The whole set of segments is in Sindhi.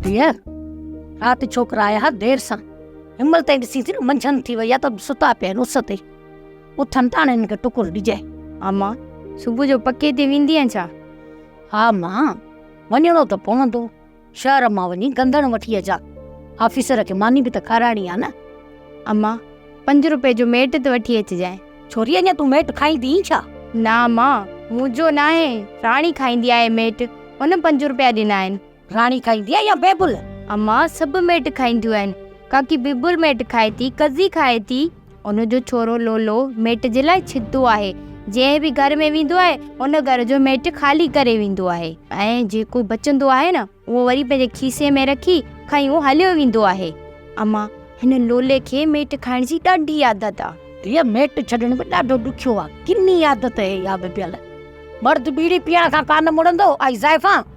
ڌيئر، رات ڇوڪرا آيا ها دير سان، هن مهل تائين ڏسين ٿي نه منجهند ٿي وئي آهي ته ستا پيا آهن اس تي، اٿن ٿا هاڻي هنن کي ٽڪر ڏجي. اما، صبح جو پڪي تي ويندينء ڇا؟ ها ماء، وڃڻو ته پوندو. شهر مان وڃي گندڻ وٺي اچان. آفيسر کي ماني به ته کارائڻي آ نه. اما، پنج روپئي جو ميٽ ته وٺي اچجانء. ڇوري اڃا تون ميٽ کائيندينء ڇا؟ نه اما، مون جو ناهي، راڻي کائيندي آهي ميٽ، هن پنج روپيا ڏنا آهن. راڻي کائيندي آهي يا بيبل؟ اما، سڀ ميٽ کائينديون آهن، ڪاڪي بيبل ميٽ کائي ٿي، ڪزي کائي ٿي. ان جو ڇورو لولو ميٽ جي لاء ڇتو آهي. جنهن به گهر ۾ ويندو آهي ان گهر جو ميٽ خالي ڪري ويندو آهي ۽ جيڪو بچندو آهي نه اهو وري پنهنجي کيسي ۾ رکي کڻي اهو هليو ويندو آهي. اما، هن لولي کي ميٽ کائڻ جي ڏاڍي عادت آ. ڌيء، ميٽ ڇڏڻ به ڏاڍو ڏکيو آ. ڪني عادت هي اها به ڀيل. مرد بيڙي پيئڻ کان ڪانه مڙندو، آئي زائفان!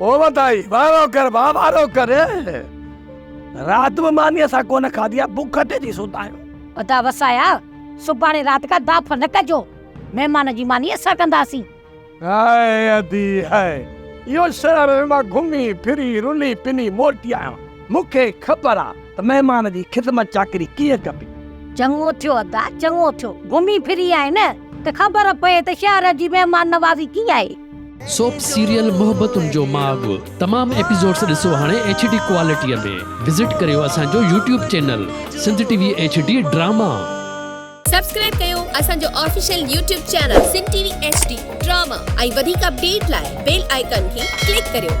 او وڌائي، وارو ڪر ڀاء وارو ڪر. رات به مانيء سان ڪونه کاڌي آهي، بک اٽي ٿي ستا آهيون. ادا وسايا، سڀاڻي رات کان داڦ نه ڪجو، مهمان جي ماني اسان ڪنداسين. هائي ادي هائي، اهو شهر ۾ مان گهمي ڦري رلي پني موٽي آيان، مون کي خبر آ ته مهمان جي خدمت چاڪري ڪيئن ڪبي. چڱو ٿيو ادا، چڱو ٿيو، گهمي ڦري آئين ته خبر پئي ته شهر جي مهمان نوازي ڪيئن آهي. سوپ سيريل محبتن جو ماڳ تمام ايپيسوڊس ڏسو هاڻي ايڇ ڊي ڪوالٽيء ۾ وزٽ ڪريو اسان جو YouTube channel Sindh T V H D drama. Subscribe ڪيو اسان جو official YouTube channel Sindh T V H D drama ۽ وڌيڪ اپڊيٽ لاء بيل آئيڪان کي ڪلڪ ڪريو.